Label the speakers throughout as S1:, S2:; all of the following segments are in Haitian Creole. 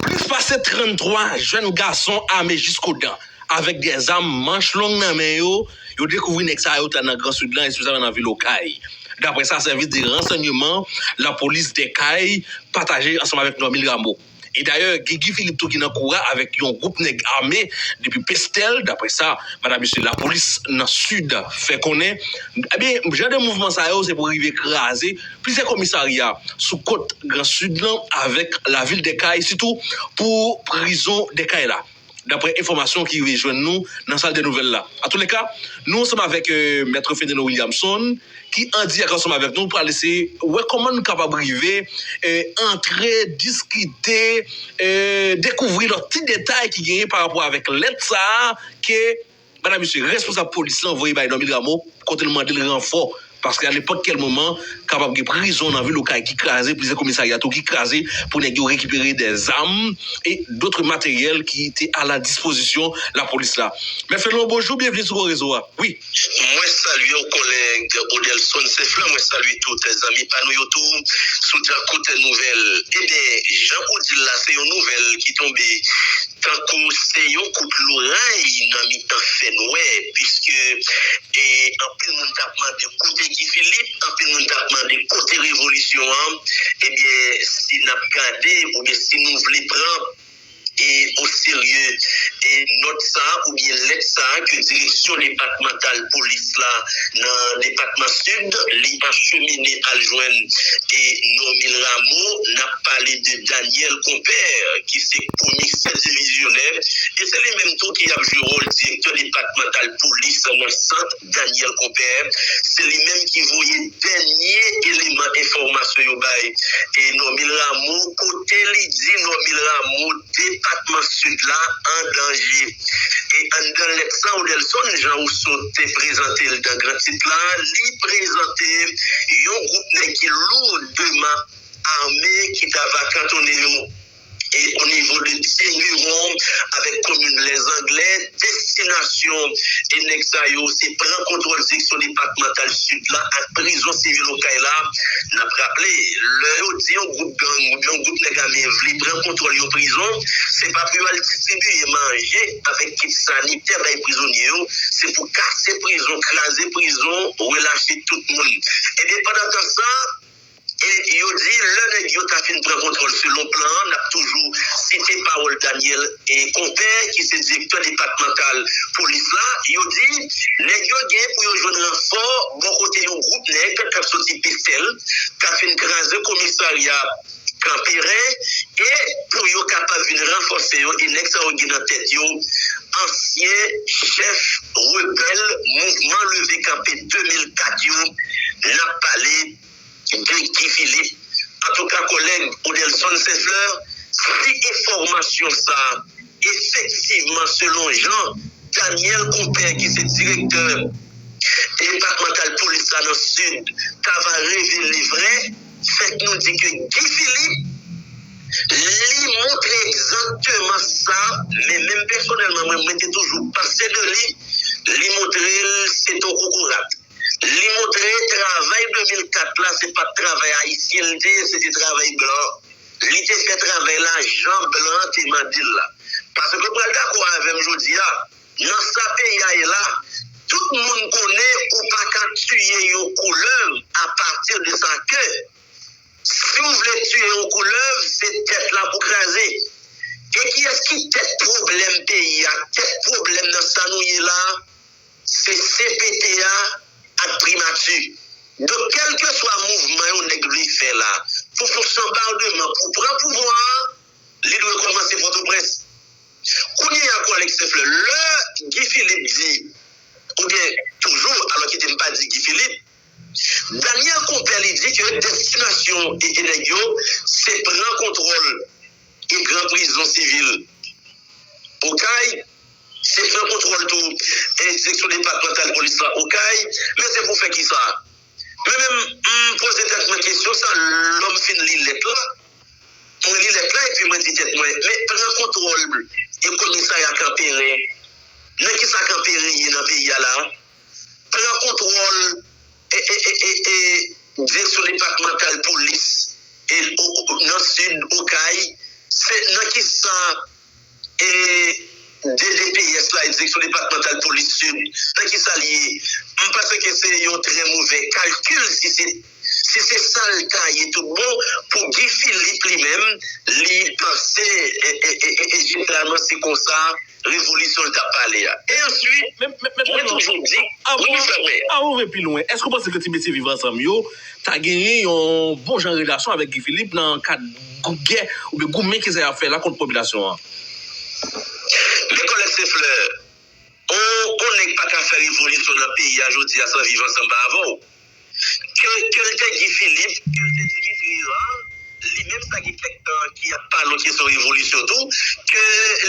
S1: Plis pase 33 jèn gason ame jiskodan avèk 2 zam manch long nan men yo, yo dekouvri nèg sa yo ta nan gran Sid lan espesyalman nan vil Okay. Daprè sa sèvis de ransanyeman lapolis dè kay pataje ansanm avèk Normil Rameau. E dayè gen Guy Philippe tou ki nan kou a avèk yon gwoup nèg ame depi Pestèl daprè sa Madam mesye lapolis nan Sid fè konnen. Ebyen jan de mouvman sa yo se pou rive kraze. Plizyè komisarya sou kot gran sid lan avèk lavil Dèkay sitou pou prizon Dèkay la daprè enfòmasyon ki rive jwenn nou nan sal dè nouvèl la. Atoulèka nou ansanm avèk Mèt Fenelon Williamson ki andirèk ansanm avèk nou pral eseye wè kòman nou kapab rive antre, diskite, dekouvri lòt ti detay ki genyen parapò avèk lèt sa a ke Bala misye, responsab polis lan voye bay Normil Rameau kote l mande l ranfò paske a nenpòt kèl moman kapab gen prizon nan vil Okay ki kraze, plizyè komisarya tou ki kraze pou nèg yo rekipere dè zam e dotre materyèl ki te a la dispozisyon lapolis la. Mèt Fenlon, bonjou, byenvni sou Gwo Rezo a. Wi. Mwen salye
S2: w kòlèg Odelson Senflan, mwen salye tout zanmi pa nou yo tou sou dyakout nouvèl. Ebyen, jan ou di l la, se yon nouvèl ki tonbe. Tankou se yon kout loray nan mitan fènwè piske anpil moun tap mande kote Guy Philippe, anpil moun tap mande kote revolisyon an, ebyen si nap gade oubyen si nou vle pran o serye nòt sa oubyen lèt sa ke direksyon depatmantal polis la nan depatman Sid li achemine al jwenn Normil Rameau nap. pale de Daniel Compère ki se komisè divizyonè e se li menm tou ki ap jwe wòl direktè depatmantal polis nan sant Daniel Compère. Se li menm ki voye dènye eleman enfòmasyon yo bay Normil Rameau kote li di Normil Rameau depatman Sid la an danje. E anndan lèt sa Odelson Jean Rousseau te prezante l dan gran tit la, li prezante yon gwoup nèg ki lourdman. ame ki ta va kantone yo e o nivo de Tiburon avèk komin Lèzanglè, destinasyon e nèg sa yo se pran kontwòl seksyon depatmantal Sid la ak prizon sivil Okay la. N ap raple, lè yo di yon gwoup gang oubyen yon gwoup nèg ame vle pran kontwòl yon prizon, se pa pou yo al distribiye manje avèk kit sanitè bay prizonye yo, se pou kase prizon, kraze prizon, relache tout moun. Enben pandan tan sa, E yo di, lè nèg yo ta fin pran kontwòl selon plan an, n ap toujou site pawòl Daniel Compè ki se direktè depatmantal polis la, yo di, nèg yo gen pou yo jwenn ranfò bò kote yon gwoup nèg k ap soti Pestèl, k ap fin kraze komisarya Kanperen e pou yo kapab vin ranfòse yo e nèg sa yo gen nan tèt yo ansyen chèf rebèl mouvman leve kanpe 2004 yo n ap pale Gen Guy Philippe. Antouka kòlèg Odelson Saint Fleur, si enfòmasyon sa a efektivman selon jan Daniel Compère ki se direktè depatmantal polis la nan Sid ta va revele vrè, fèk nou di ke Guy Philippe li montre egzakteman sa men menm pèsonèlman mwen mwen te toujou panse de li, li montre l se t on kokorat. Li montre travay 2004 la se pat travay ayisyen li te ye, se te travay blan. Li te fè travay la jan blan te mande l la. Pase ke w pral dakò avè m jodi a, nan sa peyi a ye la, tout moun konnen ou pa ka tiye yon koulèv a pati de sa ke si w vle tiye yon koulèv se tèt la pou kraze. E kiyès ki tèt pwoblèm peyi a, tèt pwoblèm nan sa nou ye la? Se cpt a ak primati. Donk kelkeswa mouvman yon nèg vle fè la pou fon sanbardeman pou pran pouvwa a, li dwe kòmanse Pòtoprens. Kounye a kou Alex Seflè, lè Guy Philippe di, oubyen toujou, alò kite m pa di Guy Philippe, Daniel Compère li di ke destinasyon e nèg yo se pran kontwòl e gran prizon sivil Okay, se pran kontwòl tou e direksyon depatmantal polis la Okay, men se pou fè kisa? Men menm m poze tèt mwen kesyon sa lò m fin li lèt la, mwen li lèt la epi mwen di tèt mwen men pran kontwòl e komisarya Kanperen nan kisa Kanperen ye nan peyi a la? pran kontwòl direksyon depatmantal polis nan sid Okay, se nan ki sa DDPS la, direksyon depatmantal polis sid, nan ki sa l ye? M panse ke se yon trè movè kalkil si se. Si se sal ta ye tout bon pou Guy Philippe li menm li panse jeneralman se konsa revolisyon li tap pale a. E answit mwen toujou di wi m fèmen. Avan ou
S1: vin pi lwen, èske ou panse ke ti mesye Viv Ansanm yo ta genyen yon bon jan relasyon avèk Guy Philippe nan kad gè oubyen goumen ke sa yap fè la kont popilasyon an?
S2: Men kòlèg Seflè, on nèg paka fè revolisyon nan peyi a jodi a san Viv Ansanm pa avè w. Ke l te Guy Philippe, ke l te Dimitri Herard, li menm sa gen kèk tan ki ap pale yon kesyon revolisyon tou, ke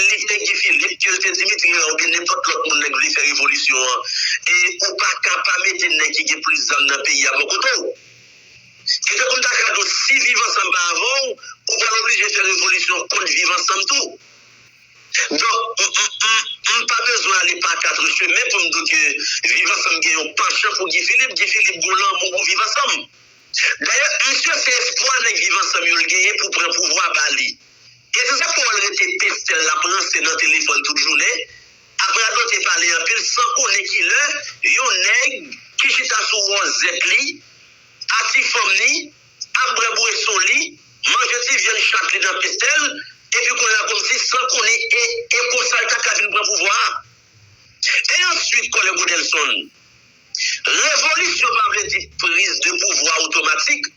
S2: li te Guy Philippe, ke l te Dimitri Herard oubyen nenpòt lòt moun nèg vle fè revolisyon an, ou pa ka pa mete nèg ki gen plis zam nan peyi a bò kote w. Ki fè pou m ta ka di w si Viv Ansanm pa avè w, ou pral oblije fè revolisyon kont Viv Ansanm tou. Donk, m pa bezwen ale pa kat ou chemen pou m di w ke Viv Ansanm gen yon panchan pou Guy Philippe. Guy Philippe gen yon lanmou pou Viv Ansanm. Dayè, misye se espwa nèg Viv Ansanm yo l genyen pou pran pouvwa ba li. E se sa k fè w wè l rete peste l, l ap ranse nan telefòn tout jounen, ap radote pale anpil san konnen ki lè yon nèg ki chita sou wòzèt li, a ti fanm li, ap bwè bweson li, manje ti vyann chat li nan pete l, epi kounye a kòmsi san konnen e e konsa l ta ka vin pran pouvwa a. E answit kòlè Godelson. Revolisyon pa vle di priz de pouvwa otomatik,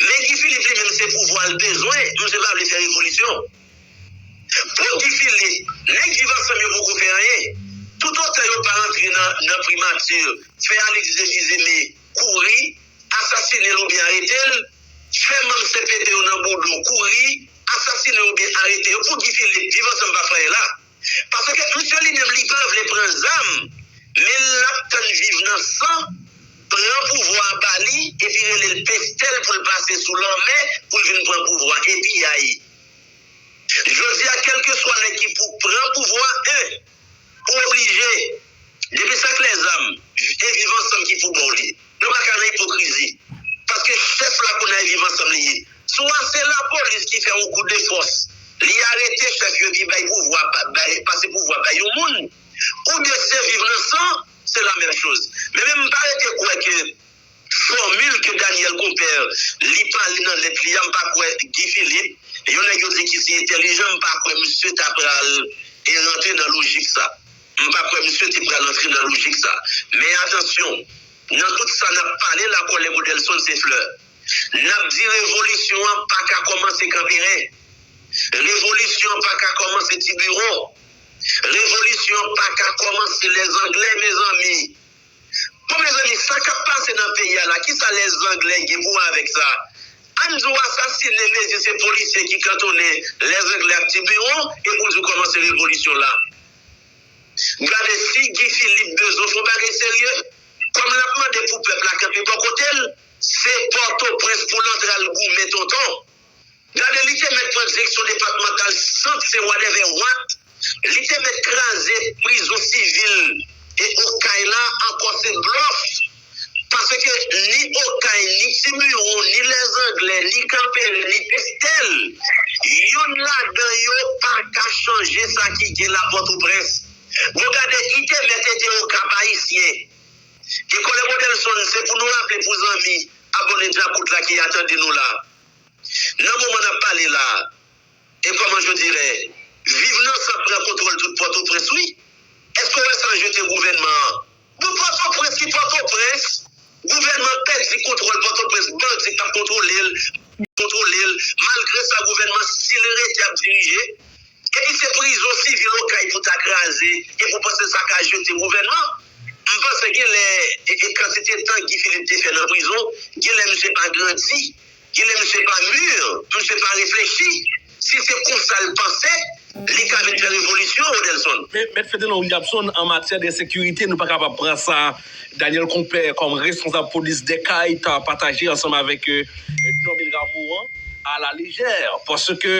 S2: men Guy Philippe li menm se pouvwa l bezwen, msye pa vle fè revolisyon. Pou Guy Philippe, nèg Viv Ansanm yo poko fè anyen, toutotan yo pa antre nan nan primature, fè Alix Deviseme, kouri, asasine l oubyen arete l, fè manm cpt yo nan boudon kouri, asasine yo oubyen arete yo pou Guy Philippe, Viv Ansanm pa fraye la. Paske misye li menm li pa vle pran zam, men l ap tann viv nan san, pran pouvwa a ba li, epi rele l Pestel pou l pase sou lanmè pou l vin pran pouvwa e piyay. Jodi a kèlkeswa nèg ki pou pran pouvwa 1. Ou oblije. Depi sa k lèzanm, e viv ansanm ki pou bon li. Nou pa ka nan ipokrizi. Paske chèf la konnen e viv ansanm li ye. Souvan se lapolis ki fè yon kou de fòs. Li arete chèf yo epi bay pouvwa, pase pouvwa bay yon moun. Ou byen se viv nan san, se la menm choz. Men menm m pa rete kwè ke Formule ke Daniel Compère li pale nan lèt li a m pa kwè Guy Philippe, yon nèg yo di ki si entèlijan m pa kwè misye ta pral rantre nan lojik sa. M pa kwè misye te pral rantre nan lojik sa. Men atansyon, nan tout sa n ap pale la kòlèg Odelson se flè. N ap di revolisyon an pa ka kòmanse Kanperen. Revolisyon an pa ka kòmanse Tiburon. Revolisyon an pa ka kòmanse Lèzanglè mezanmi. Bon mezanmi sa kap pase nan peyi a la kisa lè zanglè gen pou wè avèk sa Ann di w asasine mezi se polisye ki kantonnen lè zanglè ak ti biwon epi w di w kòmanse revolisyon la gade si Guy Philippe bezwen fon bagay serye kòm lap mande pou pèp la kanpe bò kote l se pòtoprens pou l antre al goumen tonton. Gade li te mèt pran direksyon depatmantal sant se wadèvè wat li te mèt kraze prizon sivil e okay la ankò se blòf paske ni okay ni tiburon ni lèzanglè ni kanperen ni pestèl yonn ladan yo paka chanje sa ki gen la pòtoprens bon gade li te mèt ede okap ayisyen. Ki kole model zone se pou nou raple pou zanmi abone djakout la ki a tande nou la nan moman nap pale la e koman je dirè viv nan san pran kontwol tout potoprens wi eske ou wè san jete gouvenman an bon potoprens ki potoprens gouvenman pedi kontwol potoprens bandi kap kontwolel kontwolel malgre sa gouvenman sil rete ap dirije. Key se prizon sivil okay pou ta kraze e pou panse sa ka jete gouvènman m panse genlè e kantite tan Guy Philippe te fè nan prizon genlè misye pa grandi genlè misye pa mur misye pa reflechi si se konsal panse li ka vin fè revolisyon Odelson. Men, Mèt Fedena Williamson,
S1: an matyè de ensekirite, nou pa kapab pran sa. Daniel Compè kòm responsab polis Dèkay ta pataje ansanm avèk Normil Rameau an a la lejè paske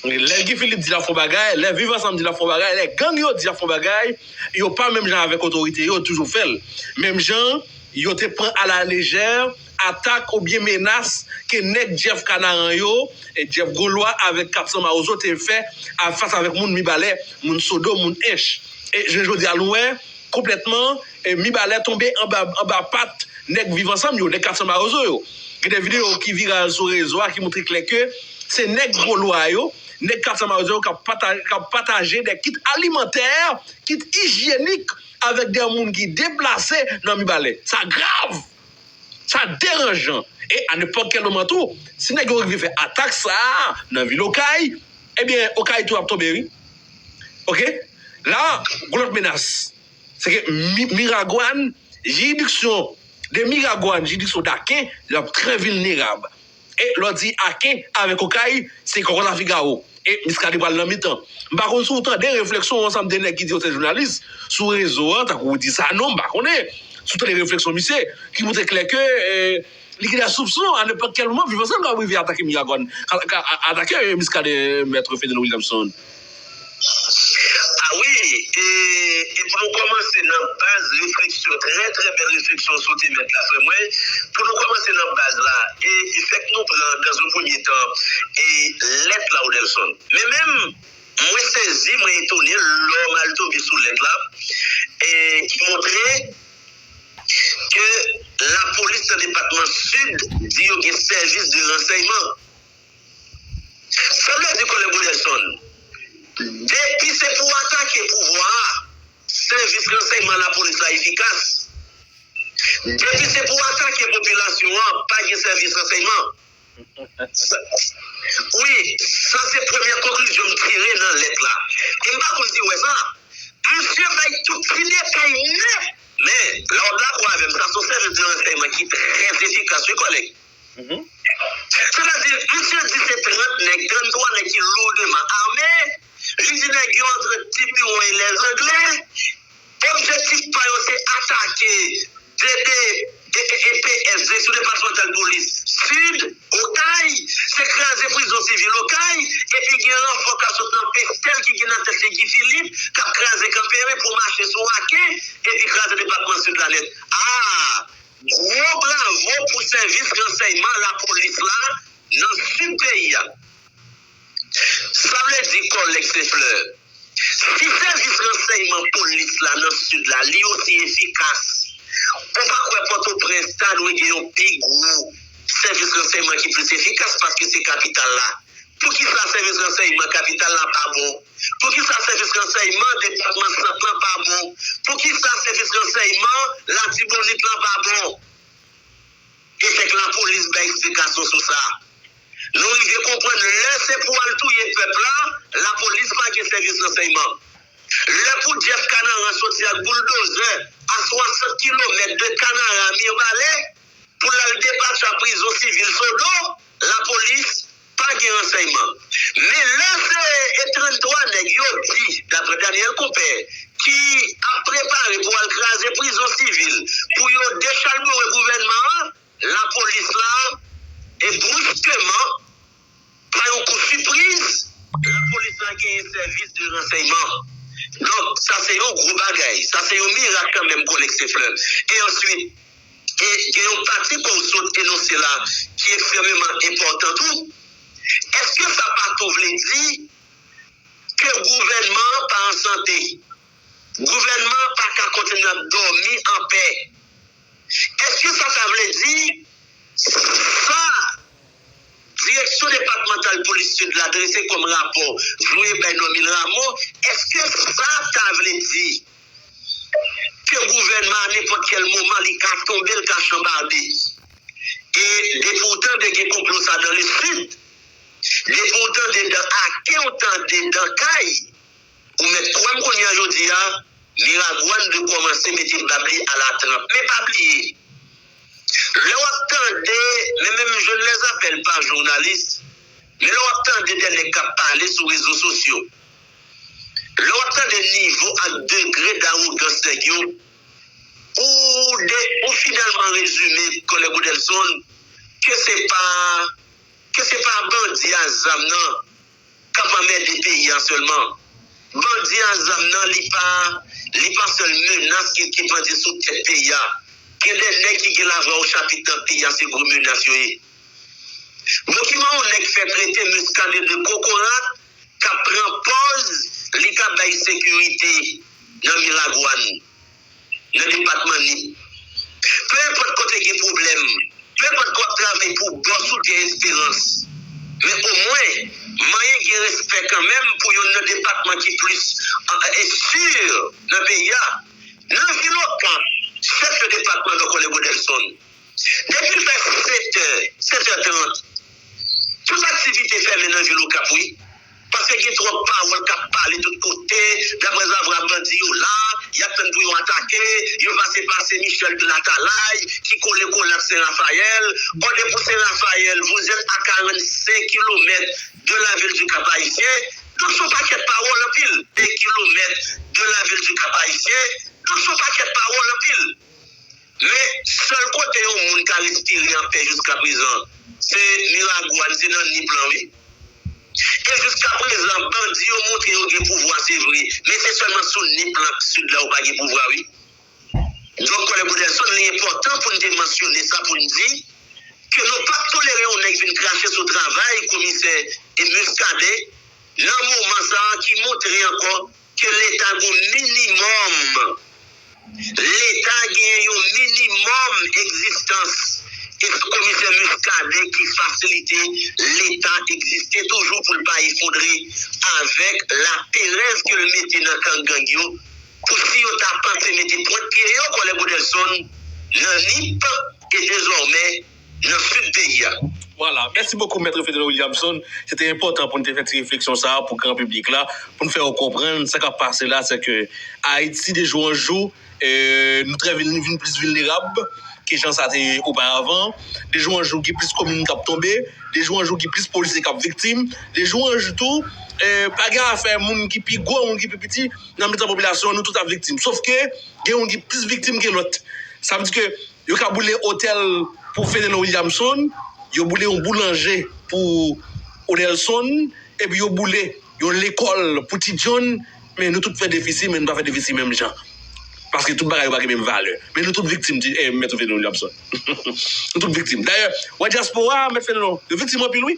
S1: lè Guy Philippe di l ap fon bagay, lè Viv Ansanm di l ap fon bagay, lè gang yo di y ap fon bagay yo pa menm jan avèk otorite yo toujou fè l menm jan yo te pran a la lejè atak oubyen menas ke nèg Jeff Kanaran yo, Jeff Golwa avèk 400 Mawozo te fè fas avèk moun Mibalè, moun Sodo, moun Ench. E jounen jodi a nou wè konplètman. E Mibalè tonbe anba pat nèg Viv Ansanm yo, nèg 400 Mawozo yo. Gen de videyo ki viral sou rezo a ki montre klè ke se nèg Gwo Lwa yo, nèg 400 Mawozo yo k ap pataje de kit alimantè, kit ijyenik avèk de moun ki deplase nan Mibalè. Sa grav! Sa deranjan! E a nenpòt kèl moman tou, si nèg yo rive fè atak sa a nan vil Okay, ebyen Okay tou ap tonbe wi. Ok! La a, gon lòt menas. Se ke Miragwàn, jiridiksyon de Miragwàn, jiridiksyon d'Aken, yo ap trè vilnerab. E lè w di Aken avèk Okay, se kòkòt a figawo. E Miskaden pral nan mitan. M pa konn si w tande refleksyon yon ansanm de nèg ki di yo se jounalis sou rezo an, tankou Roody Sanon, m pa konnen si w tande refleksyon misye, ki montre klè ke Li gen de soupson a nenpòt kèl moman Viv Ansanm kapab rive atake Miragwàn, atake Miskaden Mèt Fedeno Williamson. A
S2: wi, e pou nou kòmanse nan baz refleksyon, trè trè bèl refleksyon w sote mèt la frè mwen, pou nou kòmanse nan baz la e fèk nou pran dans un premye tan lèt la w Nelson. Men menm mwen sezi, mwen etone lò m al tonbe sou lèt la ki montre ke lapolis nan depatman Sid di yo gen sèvis de ransèyman. Sa vle di Kòlèg Wilderson, depi se pou atake pouvwa a, sèvis ransèyman lapolis la efikas. Depi se pou atake popilasyon an, pa gen sèvis ransèyman. Wi, sa se premye konklizyon m tire nan lèt la. E m pa konn si w wè sa, misye bay tout ti detay nèt. Men, la w ap dakò avè m, sa se yon sèvis de ransèyman ki trè efikas wi kòlèg. Sètadi, misye di se 30 nèg, 33 nèg ki lourdeman ame, li di nèg yo antre Tipiron e Lèzangle, Objektif pa yo se atake DD aka PSD sou depatmantal polis Sid, Okay, se kraze prizon sivil Okay, epi gen ranfò kap sot nan Pestel ki gen nan tèt li Guy Philippe kap kraze Kanperen pou mache sou Aken epi kraze depatman Sid la nèt. Aa! Gwo bravo pou sèvis ransèyman lapolis la nan Sid peyi a. Sa vle di kòlèg Sefleur, si sèvis ransèyman polis la nan Sid la li osi efikas, ou pa kwè Pòtoprens ta dwe gen yon pi gwo sèvis ransèyman ki plis efikas paske se kapital la? Poukisa sèvis ransèyman kapital la pa bon? Poukisa sèvis ransèyman depatman Sant lan pa bon? Poukisa sèvis ransèyman Latibonit lan pa bon? E fèk lapolis bay eksplikasyon sou sa. Nou rive konprann lè se pou al touye pèp la, lapolis pa gen sèvis ransèyman. Lè pou Jeff Kanaran soti ak bouldozè a 60 kilomèt de Kanara, Mirbalè, pou l al depatcha prizon sivil Sodo, lapolis Pa gen ransèyman. Men lè se e 33 nèg yo di, daprè Daniel Compè, ki ap prepare pou al kraze prizon sivil pou yo dechalbore gouvènman an, lapolis la e bruskeman, pa yon kou sipriz, lapolis la genyen sèvis de ransèyman. Donk, sa se yon gwo bagay. Sa se yon mirak kanmenm Konekse Flè. E answit. E gen yon pati ke w sot enonse la ki ekstrememan enpòtan tou. Eske sa pa tou vle di ke gouvènman an pa an sante? Gouvènman an pa ka kontinye ap dòmi an pè? Eske sa ta vle di sa? Direksyon depatmantal polis Sid la drese kòm rapò voye bay Normil Rameau, èske sa ta vle di ke gouvènman an nenpòt kèl moman li ka tonbe, l ka chanbarde? E depi w tande gen konplo sa dan le Sid, depi w tande dan Ake, w tande dan Kay, ou mèt kwè m kounye a jodi a, Miragwàn dwe kòmanse mete bab li alatranp. Men pa bliye! Lè wap tande, men menm jwenn lè zafèl pa jounalis, men lè wap tande dè nèg kap pale sou rezo sosyo, lè wap tande nivo ak degre dawogans nèg yo, ou finalman rezime Kònè Godelson ke se pa ke se pa bandi a zam nan. kap anmède peyi an sèlman bandi an zam nan li pa li pa sèl menas ki ki pandye sou tèt peyi a gen de nèg ki gen lavwa o chapit nan peyi a se gwo menas yo ye bon kiman yon nèg fè trete Muscadin de kokorat kap pran pòz li ka bay sekirite nan Miragwàn. nan depatman Nip. Pe enpòt kote gen pwoblèm, pe enpòt ke w ap travay pou bòs ou gen esperans, men omwen manyen gen respè kanmenm pou youn nan depatman ki plis ensikir nan peyi a. Nan vil Okan, chèf de depatman Dokole Godelson, depi l fè 7 è, 7 è 30, tout aktivite fèmen nan vil Okap wi. Paske gen twòp pawòl kap pale tout kote, daprè zavra bandi yo la, yap tann pou yo atake, yo pase pase Michel de latalay ki kole kole ak Sen Rafayèl, bon depi Sen Rafayèl vouzèt a 45 kilomèt de la vil du Cap Haïtien, donk son pakèt pawòl anpil, de kilomèt de la vil du Cap Haïtien, donk son pakèt pawòl anpil. Men, sèl kote yon moun ka respire anpè jiskaprezan se Miragwàn, se nan Nip lan wi. E jiskaprezan bandi yo montre yo gen pouvwa se vre, men se sèlman sou Nip lan ak Sid la yo pa gen pouvwa wi. Donk Kònè Bodelson, li enpòtan pou n te mansyone sa pou n di ke nou p ap tolere yon nèg vin krache sou travay komisè Muscadin nan moman sa a ki montre ankò Ke leta gon minimòm. Leta gen yon minimòm egzistans. E se komisè Muscadin ki fasilite leta egziste toujou pou l pa efondre avèk laperèz ke l mete nan kan gang yo pou si yo ta panse mete pwent pye yo kòlè Bodelson nan Nip e dezòmè nan sid peyi a. Vwala, mèsi
S1: bokou Mètre Fedel Williamson, se te enpòtan pou n te fè ti refleksyon sa a pou gran piblik la, pou n fè yo konprann sa k ap pase la, se ke Ayiti de jou an jou nou trè vin vin plis vilnerab ke jan sa te ye oparavan, de jou an jou gen plis komin k ap tonbe, de jou an jou gen plis polisye k ap viktim, de jou an jou tou pa gen afè moun ki pi gwo, moun ki pi piti nan mitan popilasyon an, nou tout ap viktim, sof ke gen youn ki plis viktim ke lòt, sa vle di ke. Yo ka boule otèl pou Fenelon Williamson, yo boule yon boulanje pou Odelson, epi yo boule yon lekòl pou Ti John, men nou tout fè defisi, men nou pa fè defisi menm jan. Paske tout bagay yo pa gen menm valè. Men nou tout viktim, Ti, eh, Mèt Fenelon Williamson. Nou tout viktim. Dayè, wè dyaspora a, Mèt Fenelon, yo viktim anpil wi.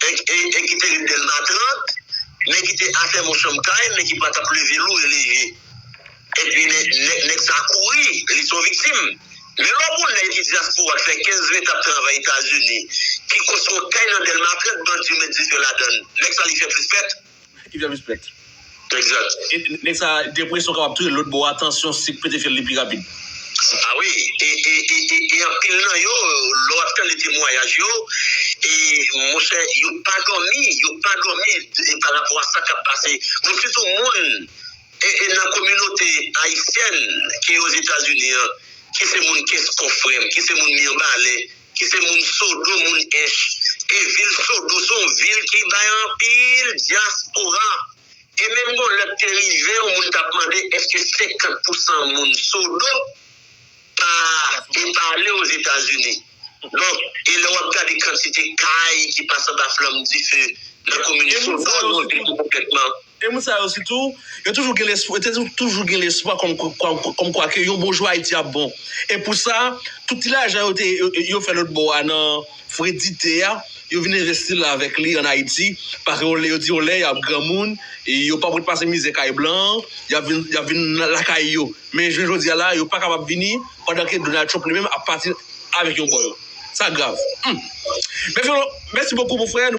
S2: E ki te ret Dèlma 30, men ki te afèm yon chanm kay, men ki pa t ap leve lou e leve. Epi nèg sa kouri, li s on viktim. Men lè w gen yon nèg ki dyaspora, ki fè 15, 20 tan ap travay Etazini, ki konstwi yon kay nan Dèlma 30, bandi yo met dife ladan l, nèg sa li fè plis fèt. Give them
S1: respect. Exact.
S2: Nèg sa
S1: depresyon kapab touye l lòt bò a tansyon sik pete fyèl li pi rapid. Ah wi
S2: e e e e anpil nan yo lè wap tande temwayaj yo e monchè yo pa dòmi yo pa dòmi e pa rapò a sa kap pase moun sitou moun e e nan kominote ayisyèn ki ozetazini an ki se moun kès kò frèm ki se moun miyanbalè ki se moun Sodo, moun Ench. E vil Sodo se yon vil ki bay anpil dyaspora. E menm gon lè te rive yon moun t ap mande èske 50 pousan moun Sodo pa te pa ale Ozetazini. Donk, e lè w ap gade kantite kay ki pase anba flanm dife nan komin Sodo, nou di ki konplètman. E moun sa yo
S1: sitou, yo toujou gen lespwa, yo te toujou gen lespwa kòmkwa ke yon bon jou Ayiti ap bon. E pou sa, tout ti lajan yo te, yo fè lòt bò a nan fredite a, yo vin envesti l avèk li ann Ayiti. Paske yon lè, yo di yon lè y ap granmoun, yo p ap ret pase mizè kay blan an, y ap vin, y ap vin lakay yo. Men jounen jodi a la, yo pa kapab vini pandan ke Donald Trump li menm ap pati avèk yon bò yo. Sa grav. Humm. Mèsi bokou, mon frè.